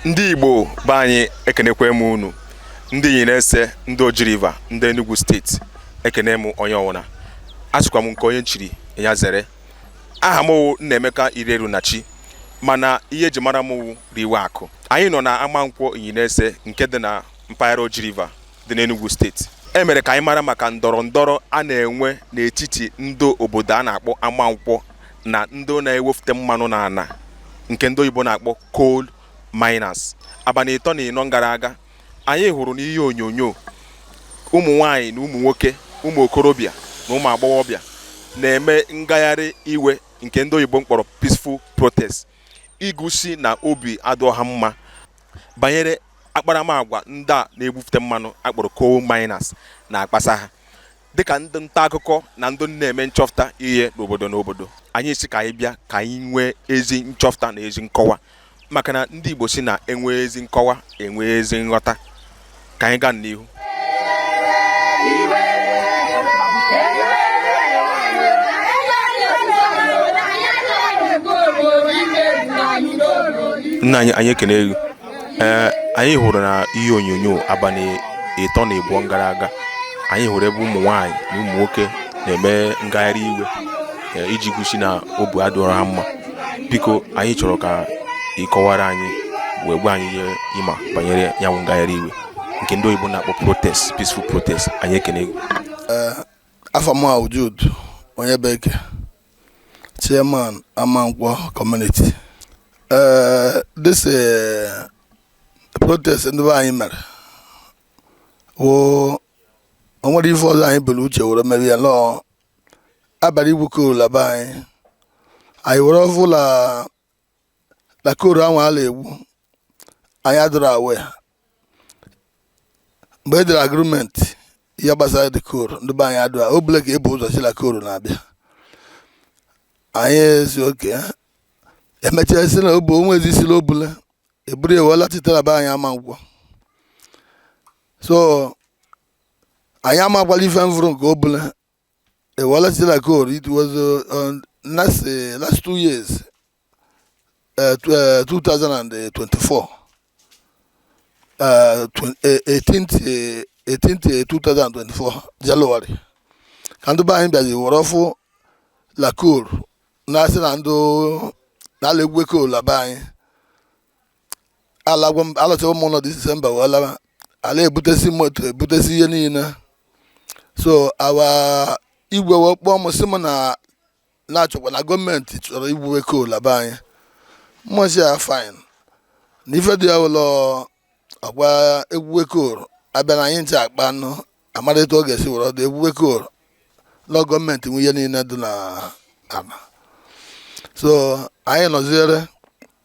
ndị igbo be anyị ekenekwe m unu ndị Inyi nese ndị Oji River ndị Enugu steeti ekene m onye ọwụna asịkwa m nke onye nchiri ya zere aha mụ wụ Nnaemeka Irerunachi mana ihe eji mara mụ wụ riwe akụ anyị nọ na Amankwọ Inyi nese nke dị na mpaghara Oji River dị n'Enugwu steeti e mere ka anyị mara maka ndọrọ ndọrọ a na-enwe n'etiti ndị obodo a na-akpọ Amankwọ na ndị na-ewefute mmanụ n'ala nke ndị oyibo na-akpọ coal miners abalị ịtọ na ịnọ gara aga anyị hụrụ n'ihe onyonyo ụmụ nwanyị na ụmụ nwoke ụmụ okorobịa na ụmụ agbọghọbịa na-eme ngagharị iwe nke ndị oyibo mkpọrọ peaceful protest igosi na obi adịrọ ha mma banyere akparamagwa ndị a na-ebufute mmanụ a kpọrọ coal miners na-akpasa ha dịka ndị nta akụkọ na ndị na-eme nchọpụta ihe n'obodo n'obodo anyị sị ka anyị bịa ka anyị nwee ezi nchọpụta na ezi nkọwa maka na ndị Igbo sị na e nwee ezi nkọwa e nwee ezi nghọta ka anyị gaa n'ihu nna anyị anyị ekene gị ee anyị hụrụ na ihe onyonyo abalị ịtọ na ịbụọ gara aga anyị hụrụ ebe ụmụ nwaanyị na ụmụ nwoke na-eme ngagharị iwe ee, iji gosi na obi adịrọ ha mma biko anyị chọrọ ka ị kọwara anyị wee gwa anyị ihe ị ma banyere ya bụ ngagharị iwe nke ndị oyibo na-akpọ protest peaceful protest anyị ekene gị eh, afa m wụ Jude Onyebeke chairman Amankwo community eh, this eh, protest ndị be anyị mere wụ o nwerọ ife ọzọ anyị bu la uche were mee ya na abụrọ igwu coal la be anyị anyị were ọfụ la la coal ahụ a la-egwu anyị adịrọ aware mgbe e dere agreement ihe gbasara the coal ndị be anyị adịrọ o bụla ka ebu ụzọ sị la coal na-abịa anyị asị okay emechaa si na obu onwe ezi sila obula eburu ewela chitara be anyị Amankwọ so anyị amakwala ife mfụrụ nke o bụla ewela sila coal it was uh, last, uh, last two years uh, 2024 uh, 18th, 18th 2024 January ka ndị be anyị bịazi were ọfụ la coal na-asị na ndị a la-egwu coal na be anyị alagwo m alọtawo m ụlọ disemba wee lawa ala ebutesi moto ebutesi ihe niile so our igwe wee kpọọ m sị m na a na-akọkwa na gọọmenti chọrọ igwuwe coal na be anyị mụ asị ya fine na ife dị ya wụ lọ a ga-egwuwe coal a bịa na anyị je akpa anụ amara etu ọ ga-esi were dụ egwuwe coal lọ gọọmenti nwe ihe niile dị na ala so anyị nọziere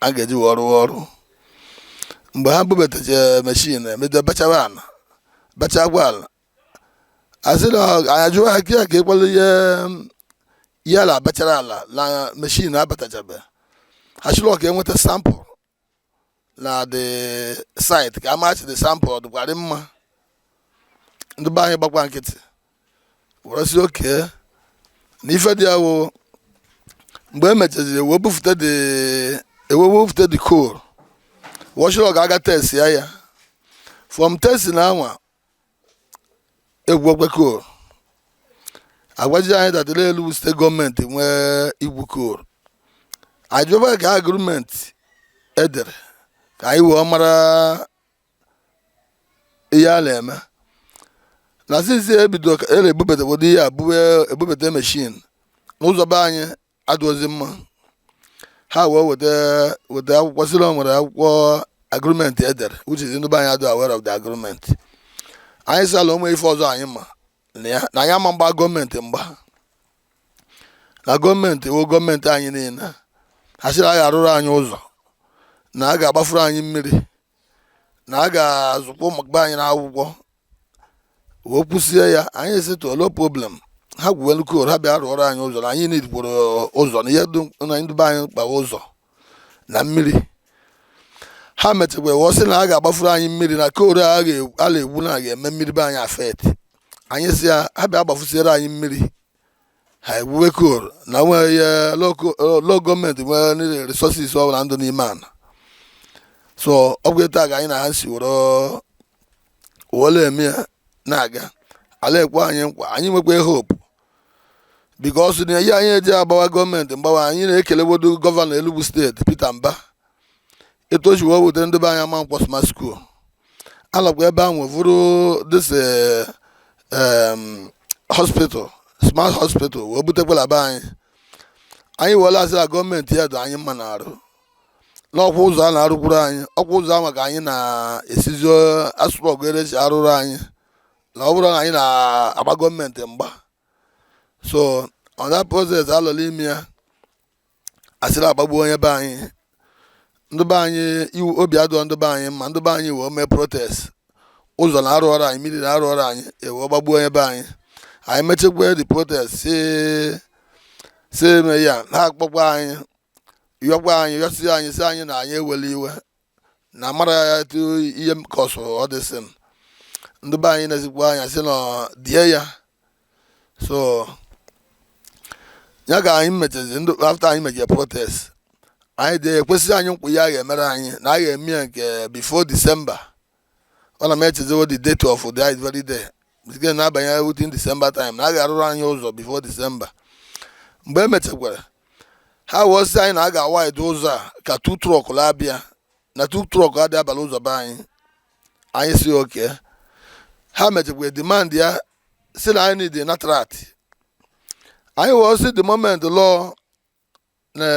a ga-eji wee rụọ ọrụ mgbe ha bubatacha meshin emedo bachawa ala bachakwa ala asị na anyị ajụwa ha ka ya ka ịkwalụ ihe a na-abachara ala na meshin abatachabe ha sịrị ka e nweta sample na the site ka a masi the sample ọ dịkwarị mma ndị be anyị gbakwa nkịtị were sị okay na ife dị ya wụ mgbe e mechaziri wee bufute the e wee bufute the coal wọ sịrị ọ ga-aga test ya ya from test na anwa egwukwe coal agwazi anyị taa na Enugu steeti gọọmenti nwe igwu coal anyị jụba kee agreement e dere ka anyị wee mara ihe a na-eme na since e bido ka e na-ebubata ụdị ihe a bube ebubata meshin na ụzọ be anyị adụzi mma ha wee weta weta akwụkwọ sịrị o nwere akwụkwọ agreement e dere which is ndị be anyị adụ aware of the agreement anyị sị na o nwe ife ọzọ anyị ma na ya na anyị ama agba gọọmenti mgba na gọọmenti wụ gọọmenti anyị niile ha sịrị a ga-arụrụ anyị ụzọ na a ga-agbafuru anyị mmiri na a ga-azụkwa ụmụ be anyị n'akwụkwọ wee kwụsie ya anyị asị no problem ha gwuwe nụ coal ha bịa rụọrọ anyị ụzọ na anyị needkwuru ụzọ na ihe dụ ndị be anyị mkpa wụ ụzọ na mmiri ha mechakwa wee sị na a ga-agbafuru anyị mmiri na coal a ga- a na-egwu na a ga-eme mmiri be anyị affect anyị sị ya ha bịa gbafusiere anyị mmiri ha egwuwe coal na nwee ya lọ gọọmenti nwere resources ọ bụla dụ n'ime ana so ọ bụ etu a ka anyị na ha si were were eme ya na-aga a na-ekwe anyị nkwa anyị nwekwa hope because na ihe anyị eji agbawa gọọmenti mgba anyị na-ekelewodo gọvanọ Enugu steeti Peter Mba etu o si wee bute ndị be anyị Amankwọ smart school alakwa ebe ahụ vụrụ this eh, em, hospital smart hospital wee butekwala be anyị anyị wee na-asị na gọọmenti ya dị anyị mma na arụ na ọkwa ụzọ a na-arụkwuru anyị ọkwa ụzọ ahụ ka anyị na-esizi asụrụ ọgụ ere si arụrụ anyị na ọ bụrọ na anyị na-agba gọọmenti mgba so on that process a nọ n'ime ya asịrị agbagbuo onye be anyị ndị be anyị iwe obi adụrọ ndị be anyị mma ndị be anyị wee mee protest ụzọ na arụọrọ anyị mmiri na arụọrọ anyị e wee gbagbuo onye be anyị anyị mechekwa the protest si si eme ya ha akpọkwa anyị yọkwa anyị yọsi anyị sị anyị na anyị ewele iwe na amara ya etu ihe m kọsụrụ ọ dị sị m ndị be anyị na-asịkwa anyị sị na die ya so ya ka anyị mechezi ndị after anyị mechere protest anyị dị ekwesịa anyị nkwa ihe a ga-emere anyị na a ga-eme ya nke before December ọ na m echezọwo the date of the very day nke na-abanye within December time na a ga-arụrụ anyị ụzọ before December mgbe e mechakwara ha wee sị anyị na a ga-awide ụzọ a ka two truck la-abịa na two truck adị aba l'ụzọ be anyị anyị sị okay ha mechakwa demand ya sị na anyị need laterite anyị wee sị the moment lụọ na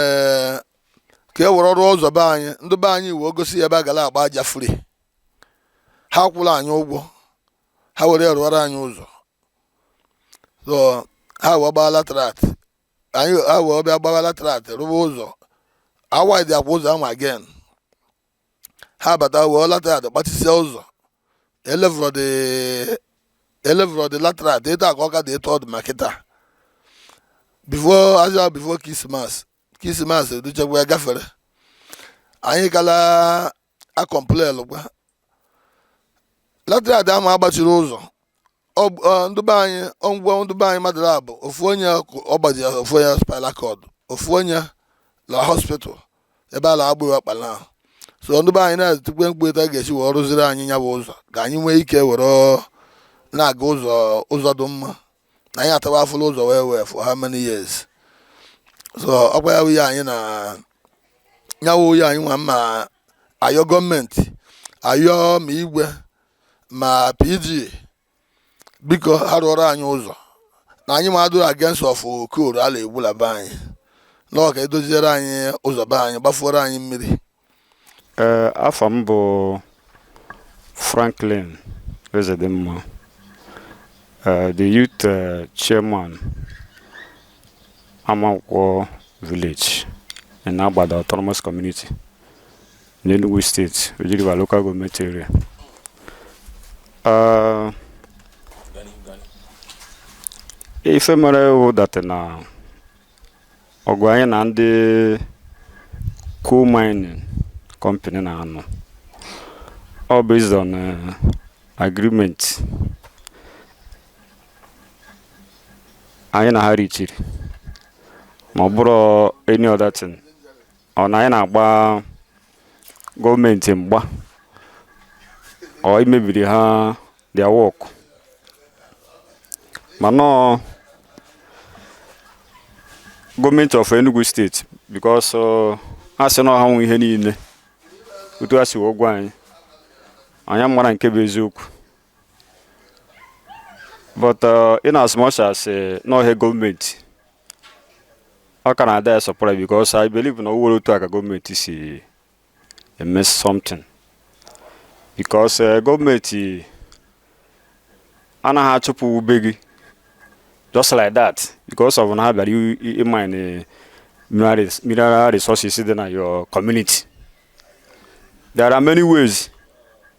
ka e were rụọ ụzọ be anyị ndị be anyị wee gosi ya ebe a gara agba aja free ha akwụla anyị ụgwọ ha were rụọrọ anyị ụzọ so ha wee gbaa laterite anyị ha wee bịa gbaa laterite rụwa ụzọ awidekwa ụzọ ahụ again ha bata were laterite gbachisie ụzọ elevelrọ the laterite etu a ka ọ ka dị etu ọ dị ma kịta before azụ before Christmas Christmas educhekwa ya gafere anyị ka la-acomplainkwa laterite ama agbachiri ụzọ ndị be anyị o gbugwo ndị be anyị mmadụ abụọ ofu onye ọgbaji ofu onye spinal cord ofu onye na hospital ebe a na-agba ya ọkpa na so ndị be anyị na-etikwe mkpu etu a ga-esi wee rụziri anyị nya bụ ụzọ ka anyị nwee ike were na-aga ụzọ ụzọ dị mma na anyị atawa afụfụ l'ụzọ wee wee for how many years so ọkwa ya wụ ihe anyị na nya wụ ihe anyị nwa ma ayọ government ayọ ma igwe ma PG biko ha rụọrọ anyị ụzọ na anyị ma adụrọ against of coal a la-egbu la be anyị na ọ ka e doziere anyị ụzọ be anyị gbafuoro anyị mmiri Ee, afa m bụ Franklin Ezedimma, eh, the youth eh, chairman Amankwọ village in Agbada Autonomous Community, n'Enugu steeti Oji River local gọọmenti area ah, ife mere wụ that na ọgụ anyị na ndị coal mining company na-anụ ọ bụ based on eh, agreement anyị na ha richiri ma ọ bụrụ any other thing ọ na anyị na-agba gọọmenti mgba or imebiri ha their work mana ọ gọọmenti of Enugu steeti because ọ, ha sị na ọ ha nwe ihe niile otu ha si wee gwa anyị anyị amara nke bụ eziokwu but uh, in as much as uh, na ọ government ọ ka na-adị ya surprise because I believe na owere otu aka gọọmenti si eme something because uh, gọọmenti anaghị achụpụ ụ be gị just like that because of na ha bịara ịmine mineral resources dị na your community there are many ways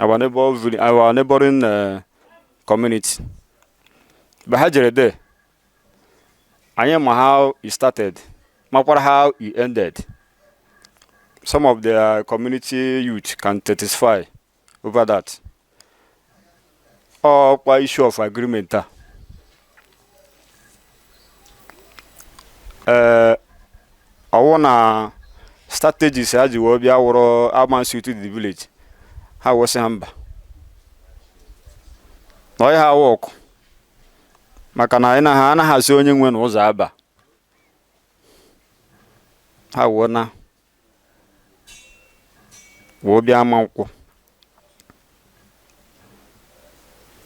our neighbor vil- our neighboring uh, community mgbe ha jere there anyị ma how e started makwara how e ended some of their community youth can testify over that ọkwa issue of agreement a ee ọwụ na strategies ha ji wee bịa wụrụ amansi to the village ha wụsị ha mba na ọya ha wụ ọkụ maka na anyị na ha anaghị asị onye nwe na ụzọ aba ha wụọ na wee bịa Amankwọ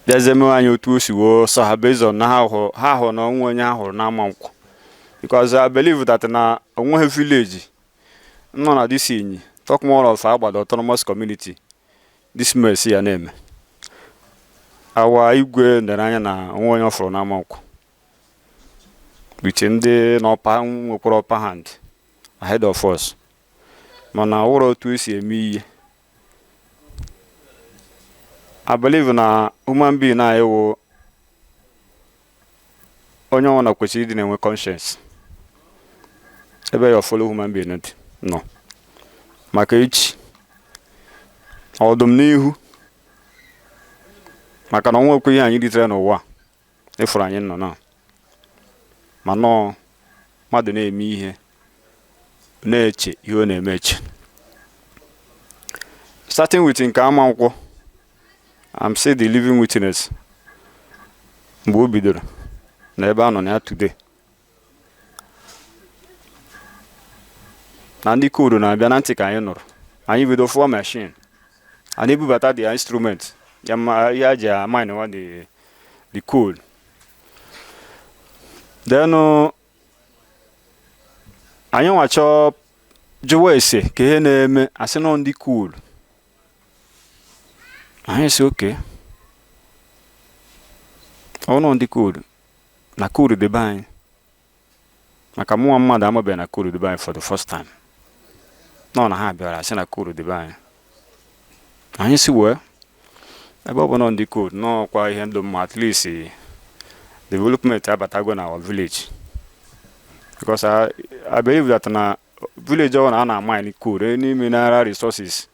bịazie mewe anyị otu o si wee sọ ha based on na ha hụrụ ha hụrụ na onwe onye ha hụrụ n'Amankwọ because I believe that na onweghị village nọ na this Inyi talk more of Agbada autonomous community this mess ya na-eme our Igwe nere anya na onwe onye ọ fụrụ n'Amankwọ which ndị n'ọpa nwekwara upper hand ahead of us mana ọ wụrụ otu e si eme ihe I believe na human being na ị wụ onye ọwụna kwesịrị ịdị na-enwe conscience ebe your fellow human being dị nọ maka echi ọdịnihu maka na onwekwe ihe anyị ritere n'ụwa ịfụrụ anyị nọ na ma nọọ mmadụ na-eme ihe na-eche ihe ọ na-eme eche starting with nke Amankwọ I'm still the living witness mgbe o bidoro na ebe a nọ na ya today na ndị coal na-abịa na ntị ka anyị nụrụ anyị bido fụọ machine a na-ebubata the instrument ya ji mine wa the coal then uh, anyị nwa chọọ jụwa ese ka ihe na-eme a sị nọ ndị coal anyị sị okay ọ nọ ndị coal na coal dị be anyị maka mụnwa mmadụ amabeghị na coal dị be anyị for the first time nọ na ha bịara sị na coal dị be anyị anyị sị well ebe ọ bụ nọ ndị coal nọ kwa ihe dụ mma at least development abatago na our village because I, I believe that na village ọ na a na-amine coal any mineral resources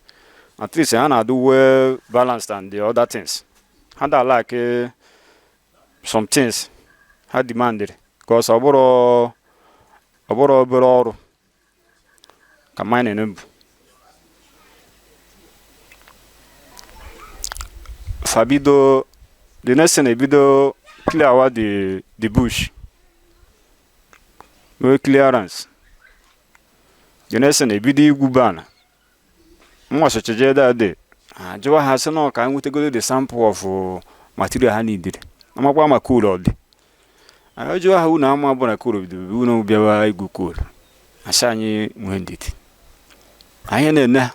at least ha na-adụ well balanced and the other things ha da like some things ha demanded because ọ bụrọ obere ọrụ ka mining bụ fa bido the next thing ebido clearwa the the bush mee clearance the next thing ebido igwuba ana mụwa socha jee that day jụwa ha sị na ka anyị nwetagodo the sample of uh, material ha needịrị amakwa ma coal ọ dị anyị jụwa ha unu ama bụ na coal bidobe unu bịawa igwu coal asị anyị nwee ndidi anyị na-ene ha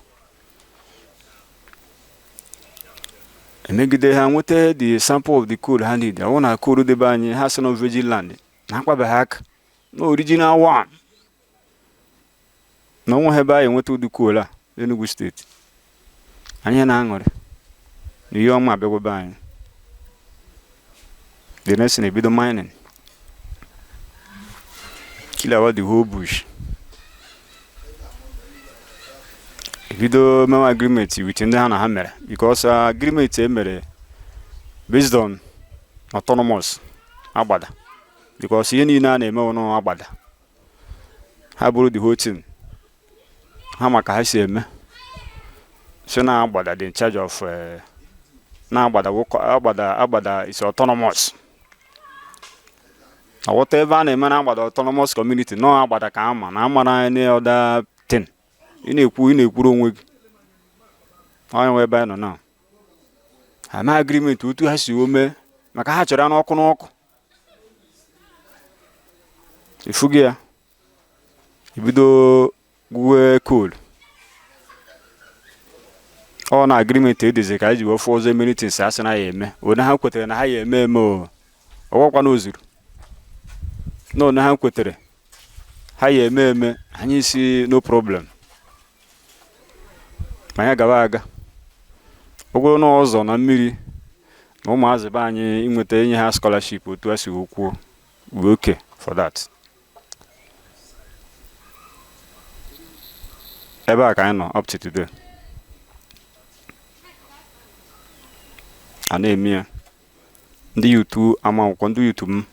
emegide ha nweta the sample of the coal ha need a hụ na coal dị be anyị ha sị na virgin land na akpabeghị aka na original one na onweghị ebe anyị enweta ụdị coal a Enugu steeti anyị na-aṅụrị na ihe ọma abịagwo be anyị the next thing ebido mining clearwa the whole bush ebido mewe agreement with ndị ha na ha mere because agreement e mere based on autonomous agbada because ihe niile a na-eme ọ na agbada ha bụrụ the whole thing ha maka ha si eme si na agbada dị in charge of eh, na agbada agbada agbada is autonomous whatever a na-eme na agbada autonomous community nọ agbada ka ama na amara any other thing ị na-ekwu ị na-ekwuru onwe gị onye nwe ebe anyị nọ na ha mee agreement otu ha si ome maka ha chọrọ ya n'ọkụ n'ọkụ ifugo ya ibido gwuwe coal ọ na agreement e dezi ka anyị ji wee fụ ọzọ many things a sị na ya eme one ha kwetara na ha ya eme eme o ọgwakwa na o zuru na one ha kwetara ha ya eme eme anyị sị no problem ma ya gaba aga ọ bụrụ na ụzọ na mmiri na ụmụazị be anyị inweta enye ha scholarship otu a si kwuo we okay for that ebe a ka anyị nọ up to today a na-eme ya ndị youth Amankwo ndị youth m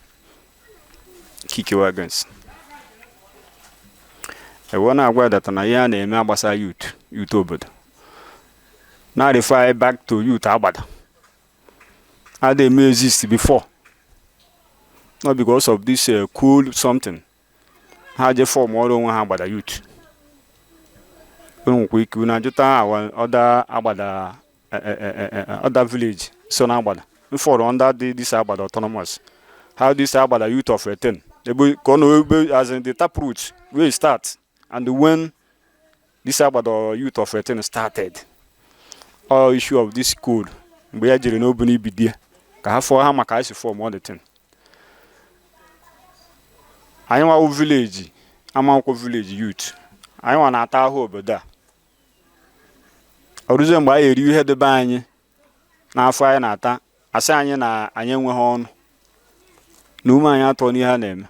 kickiwe against e wee na-agwa that na ihe a na-eme agbasa youth youth obodo na-refer anyị back to youth Agbada a na-eme exist before not because of this uh, coal something ha je formụrụ onwe ha Agbada youth unu nwekwa ike unu ajụta awa other Agbada eh, eh, eh, other village so na Agbada fall under this Agbada autonomous how this Agbada youth of a thing ebe ka ọ nọ ebe as in the tap root wey start and when this Agbada youth of a thing started all issue of this coal mgbe ya jere n'obu n'ibidie ka ha fọọ ha maka anyị si form all the thing anyị nwa village Amankwo village youth anyị nwa na-ata ahụ obodo a ọ rụzie mgbe anyị eriwe ihe dị be anyị n'afọ anyị na-ata a sị anyị na anyị enweghị ọnụ na ume anyị atụọ n'ihe a na-eme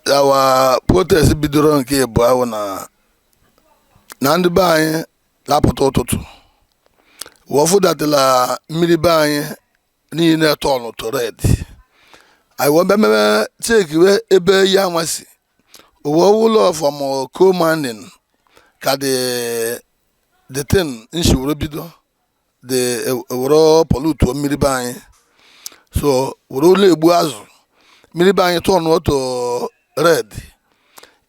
yawa protest bidoro nke ịbụọ ahụ na na ndị be anyị lapụta ụtụtụ wọ fụ that na mmiri be anyị niile turnụ to red anyị wee bịa mebe checkiwe ebe ihe anwa si E wee hụ na ọ from coal mining ka the the thing nsi were bido the were pollute mmiri be anyị so were ụlọ egbu azụ mmiri be anyị turnụọ to red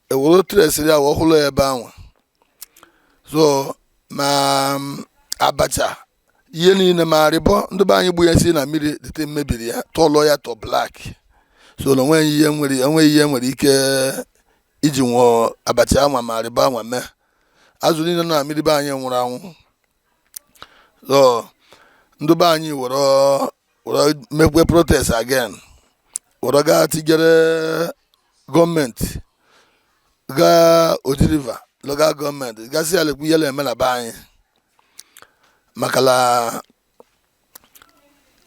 e were traceịrị ya wee hụ na ọ ebe ahụ so ma abacha ihe niile ma arịbọ ndị be anyị gbuyesi na mmiri dirty mebiri ya turnọ ya to black so na o nweghị ihe nwere enweghị ihe nwere ike iji nwụọ abacha anwa ma arịbọ anwa mee azụ niile nọ na mmiri be anyị nwụrụ anwụ so ndị be anyị were were mekwe protest again were gaa tigere government gaa Oji River local government ga sị ya lekwu ihe na-eme na be anyị maka na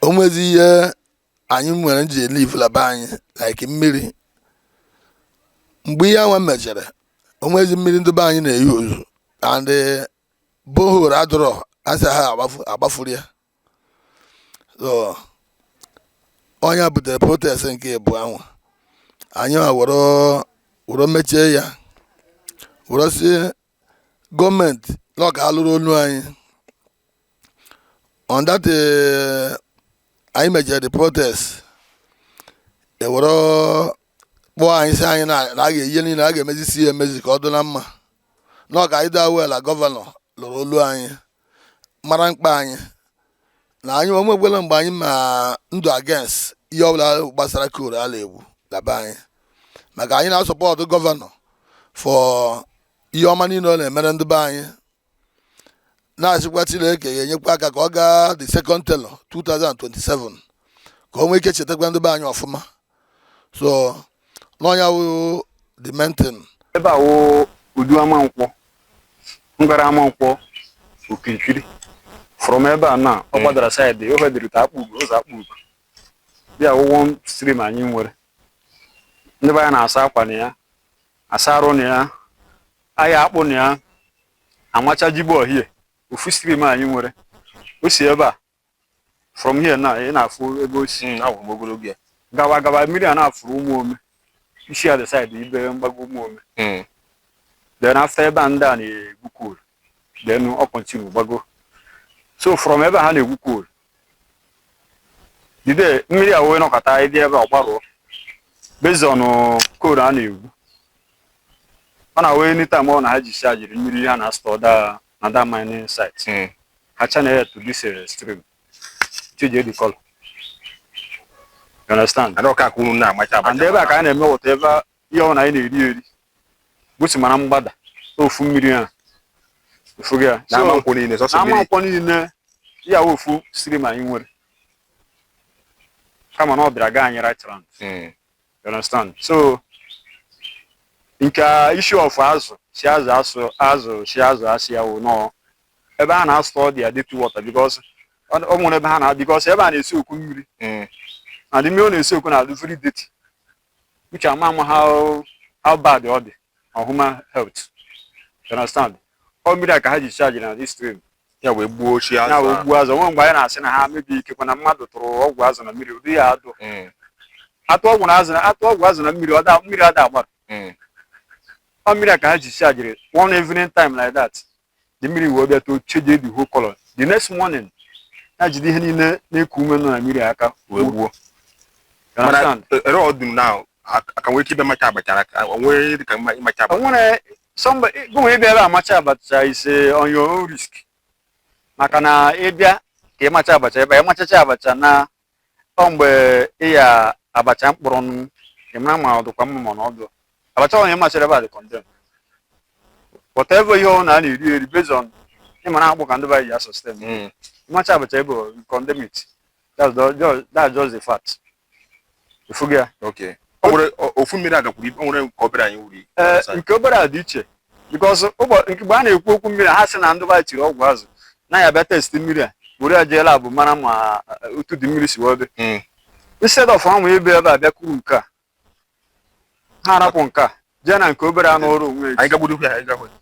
o nwezi ihe anyị nwere ji elive na be anyị like mmiri mgbe ihe anwa mechere o nwezi mmiri ndị be anyị na-euse and borehole a dọrọ asị ha agbafuru ya so ọ ya butere protest nke mbụ anwa anyị were mechie ya were sị gọọmenti na ọ ka lụrụ olu anyị on that eh, anyị mejere the protest e were kpọọ anyị sị anyị na na a ga-e ihe niile a ga-emezisi ya emezi ka ọ dị na mma na ọ ka anyị daa wela gọvanọ lụrụ olu anyị mara mkpa anyị na anyị o nwekwela mgbe anyị ma ndụ against ihe ọbụla gbasara coal a la-egwu na be anyị maka anyị na-asupport gọvanọ for ihe ọma niile ọ na-emere ndị be anyị na-asịkwa Chineke ya enyekwa aka ka ọ gaa the second tenure 2027 ka o nwee ike chetakwa ndị be anyị ọfụma so na ọ ya wụ the main thing ebe a wụ udu Amankwọ ngara Amankwọ okirikiri from ebe a na ọ gbadara side ofe dịrịta Akpugo ụzọ Akpugo bịa wụ one stream anyị nwere ndị be anyị na-asa akwa na ya asa arụ na ya ahịa akpụ na ya amacha jigbo ohie ofu stream anyị nwere o si ebe a from here na ị na-afụ ebe o si hmm, ahụrụ m ogologo ya gaba gaba mmiri a na-afụrụ Ụmụome isi at the side ibe mgbago Ụmụome hmm. then after ebe a ndị a na-egwu coal then ọ continue gbago so from ebe ha na-egwu coal jide mmiri a wee nọkọta ịdị ebe ọ gbarụọ based on coal a na-egwu ọ na-awee anytime ọ na ha dischargiri mmiri ha na-astore da na that mining site mm. ha channel to this uh, stream change the color you understand and ọka kwuru na amacha abacha and ebe a ka a na-eme whatever ihe ọ na anyị na-eri eri gosi mara mgbada ofu mmiri a ị fụgo ya na Amankwọ niile sọsọ mmiri Amankwọ niile ya wụ ofu stream anyị nwere kama na ọ bịara gaa anyị right round hmm. You understand? So nke a issue of azụ si azụ asụ azụ si azụ asị ya wụ na ọ ebe ha na-astore ụdị ya dirty water because ọ ọ nwere ebe ha na because ebe a na-esoak mmiri Mm. and the mmiri ọ na-esoak na-adị very dirty which ama ama how how bad ọ dị on human health you understand ọ mmiri a ka ha dischargiri na this stream ya wee gbuo ochi ya wee azụ gbuo azụ o nwe mgbe anyị na-asị na ha maybe ikekwe na mmadụ tụrụ ọgwụ azụ na mmiri ụdị ya adụ Mm, atụ ọgwụ na azụ na atụ ọgwụ azụ na mmiri ọ da mmiri ada agbara mm, ọ mmiri a ka ha dischargiri one evening time like that the mmiri wee bịa to change the whole color the next morning ya jide ihe niile na-eku ume nọ na mmiri aka wee gbuo You understand? mana ere ọ dum na a ka nwee ike ịbịa macha abacha ka o nwee dị ka mma ịmacha abacha o nwere somebody gụnwa ị bịa ebe a macha abacha is on your own risk maka na ị bịa ka ị macha abacha ebe ị machacha abacha na ọ mgbe ị ya abacha mkpụrụ nụ ị mara ma ọ dịkwa mma mana ọ dụ abacha onye machara ebe a dị condemn whatever ihe ọwụna a na-eri eri based on ị mara akpụ ka ndị be anyị ji a-sustain Mm. ị macha abacha ebe ọ, you condemn it that's the- just- that's just the fact ị fụgo ya Okay. O nwere o- ofu mmiri a gakwuru ibe o nwere nke obere anyị wuri. ee nke obere a dị iche because mgbe a na-ekwu okwu mmiri ha sị na ndị be anyị tiri ọgwụ azụ na ya bịa test mmiri a were ya jee lab mara ma eh, otu the mmiri si wee dị Mm. instead of ha nwee ebe ebe a bịa kuru nke a ha arapụ nke a jee na nke obere a nọrọ onwe ya anyị gagbudo ya anyị gagbudo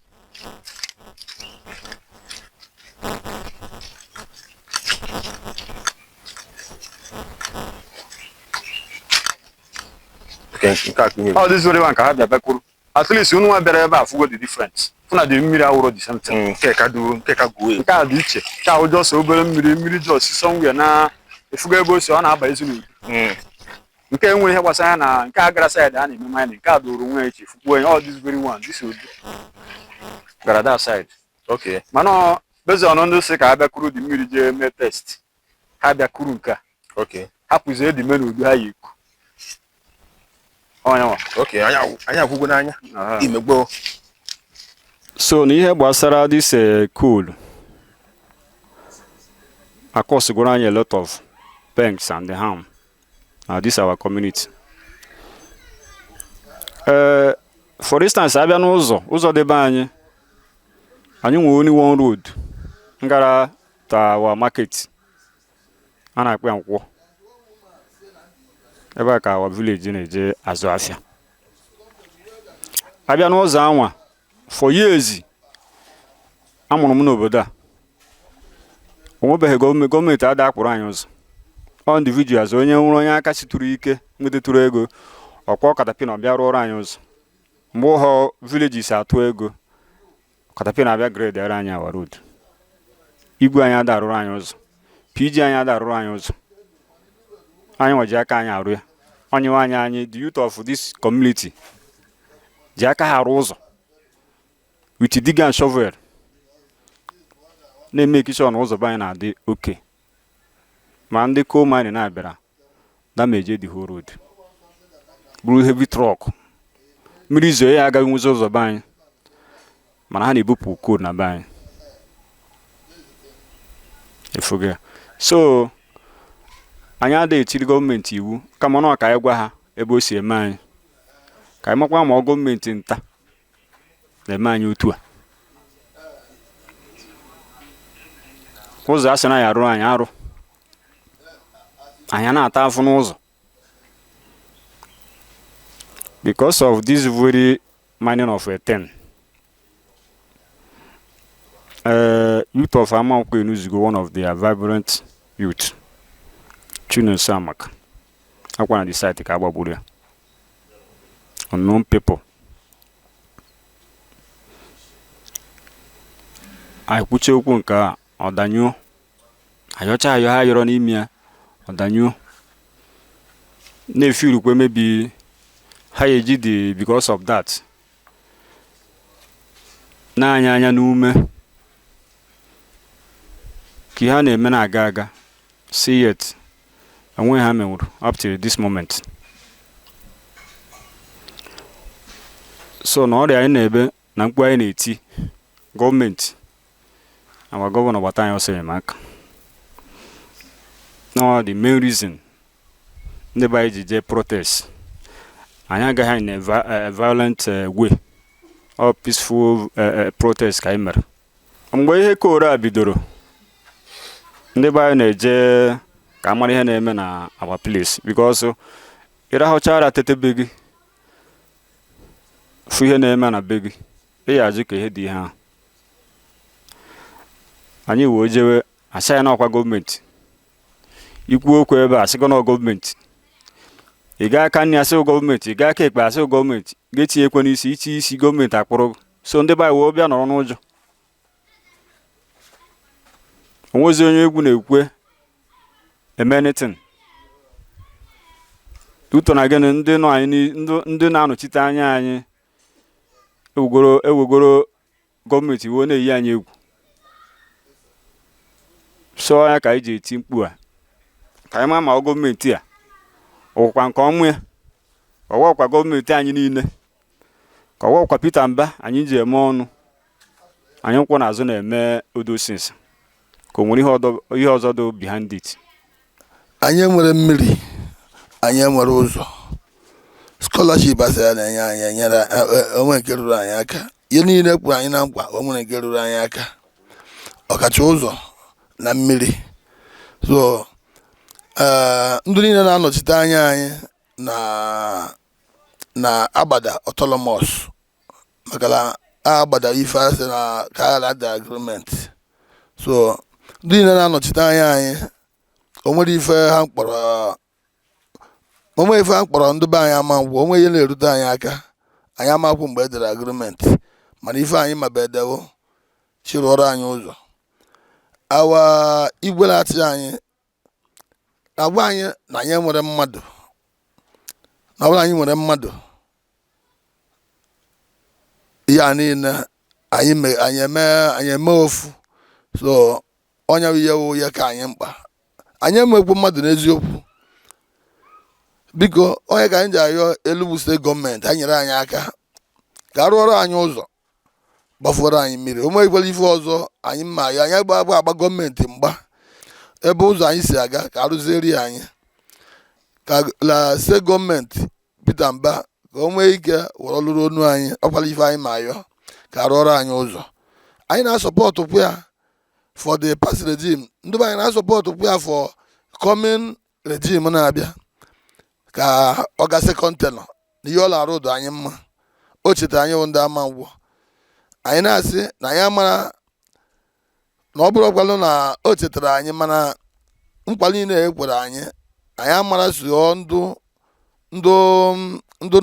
nke a ka ihe ọ dịzụrụ ya ka ha bịa bịa kuru at least unu nwa bịara ebe a afụgo the difference fụ na the mmiri awụrọ the same thing Mm, nke ka du nke ka guo nke a dị iche nke ahụ just obere mmiri mmiri just somewhere na ị fụgo ebe o si ọ na-abazi n'Udu Mm, nke enwerọ ihe gbasara ya na nke a gara side a na-eme mining nke a doro nwa echi fukwuo onye ọ this very one this Udu gara that side okay mana ọ- based on ndị si ka a bịa kuru the mmiri jee mee test ha bịa kuru nke a okay hapụzie the main Udu ha ya-eku ọnya nwa okay anyị ahụ- anyị ahụgo n'anya Aha. imegbo so na ihe gbasara this eh, coal a-causegoro anyị a lot of banks and harm na this our community Eh, for instance a bịa n'ụzọ ụzọ nde be anyị anyị nwere only one road ngara to our market a na-akpọ ya Nkwọ ebe a ka our village na-eje azụ afịa a bịa n'ụzọ anwa for years amụrụ m n'obodo a o nwebeghị gọọmenti gọọmenti ada akpụrụ anyị ụzọ ọ individuals onye wụrụ onye aka siturụ ike nwetatụrụ ego ọ kwa caterpillar ọ bịa rụọrọ anyị ụzọ mgbe ụhọ villages atụ ego caterpillar abịa gradeara anyị our road igwe anyị ada arụrụ anyị ụzọ PG anyị ada arụrụ anyị ụzọ anyị nwa ji aka anyị arụ ya anyị nwa anyị the youth of this community ji aka ha arụ ụzọ with digger and shovel na-emake sure na ụzọ be anyị na-adị okay ma ndị coal mining na-abịara damage the whole road buru heavy truck mmiri zoo ya agaghị nwezi ụzọ be anyị mana ha na-ebupụ coal na be anyị efuga so anyị adịghị etiri gọọmenti iwu kama na ka anyị gwa ha ebe o si eme anyị ka anyị makwa ma ọ gọọmenti nta na-eme anyị otu a ụzọ a sị na ya arụrụ anyị arụ anyị na-ata afụ n'ụzọ because of this very mining of a thing uh, youth of Amankwo eluzigo one of their vibrant youth Chinonso Amaka akwa na the site ka a gbagburu ya unknown people anyị kwucha okwu nke a ọ danyụọ ayọcha ayọ ha yọrọ n'ime ya ọ danyụọ na-efi urukwe maybe ha ya eji dị because of that na-anya anya n'ume ka ihe a na-eme na-aga aga still yet o nweghị ha menwuru up till this moment so na ọrịa anyị na-ebe na mkpu anyị na-eti gọọmenti our gọvanọ gbata anyị ọsọ enyemaka na the main reason ndị be anyị ji jee protest anyị agaghị ya in a eh, violent eh, way ọ peaceful eh, protest ka anyị mere mgbe ihe coal a bidoro ndị be anyị na-eje ka a mara ihe na-eme na our place because ị rahụchara tete be gị fụ ihe na-eme na be gị ị ya ajụ ka ihe dị ihe ahụ anyị wee jewe a sị anyị na ọ kwa gọọmenti i kwuo okwu ebe a sị gị na ọ gọọmenti ị gaa aka nri a sị gị ọ gọọmenti ị gaa aka ekpe a sị gị ọ gọọmenti ga-etinyekwa n'isi ichi isi gọọmenti akpụrụ gị so ndị be anyị wee bịa nọrọ n'ụjọ o nwezi onye egwu na-ekwe eme anything due to na gịnị ndị na-anọchite anya anyị ewegoro gọọmenti wee na-eyi anyị egwu so ya ka anyị ji eti mkpu a ka anyị ma ma gọọmenti a ọ wụkwa nke ọmụ ya ọ wụkwa gọọmenti anyị niile ka ọ gwakwa Peter Mba anyị ji eme ọnụ anyị kwụ n'azụ na-eme all those things ka o nwere ihe ọzọ dị behind it anyị enwere mmiri anyị enwere ụzọ scholarship a sị a na-enye anyị enyere e, e, o nwere nke ruru anyị aka ihe niile e kwere anyị na nkwa o nwere nke ruru anyị aka ọkacha ụzọ na mmiri so eh, ndị niile na-anọchite anya anyị na na Agbada autonomous maka na Agbada ife a sị na ka ada agreement so ndị niile na-anọchite anya anyị o nwere ife ha kọrọ ndị be anyị Amankwo o nwere ihe na-erute anyị aka anyị amakwụ mgbe e dere agreement mana ife anyị ma bụ e dewo chịrụọrọ anyị ụzọ awa igwe na-achị anyị agwa anyị na anyị enwere mmadụ na ọ bụrụ na anyị nwere mmadụ ihe a niile anyị eme ofu so ọ nya wụ ihe ka anyị mkpa anyị enwekwu mmadụ n'eziokwu biko ọ nya ka anyị ji ayọ Enugu State government ha nyere anyị aka ka a rụọrọ anyị ụzọ gbafuoro anyị mmiri o nweghịkwara ife ọzọ anyị ma ayọ anyị agba government mgba ebe ụzọ anyị si aga ka a rụziere anyị ka a la-asị government Peter Mba ka o nwee ike were lụrụ onu anyị ọkwara ife anyị ma ayọ ka a rụọrọ anyị ụzọ anyị na-asupport kwa ya for the past regime ndị be anyị na-asupport kwa ya for coming regime na-abịa ka ọ ga still continue na ihe ọ na-arụ dụ anyị mma o chetara anyị bụ ndị Amankwo anyị na-asị na anyị amara na ọ bụrụkwalụ na o chetara anyị mana nkwa niile e kwere anyị anyị amara so ndụ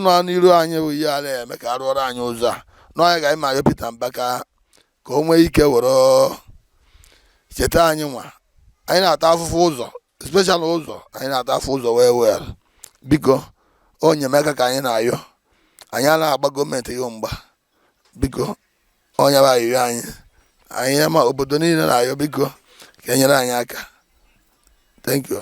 nọ n'iru anyị bụ ihe a la-eme ka a rụọrọ anyị ụzọ a ọ nya ka anyị ma ayọ Peter Mba ka ka o nwee ike were cheta anyị nwa anyị na-ata afụfụ ụzọ especially ụzọ anyị na-ata afụ ụzọ well well biko enyemaka ka anyị na-ayọ anyị ala-agba government ihe mgba biko ọ nya bụ ayịyọ anyị anyị ama obodo niile na-ayọ biko ka e nyere anyị aka thank you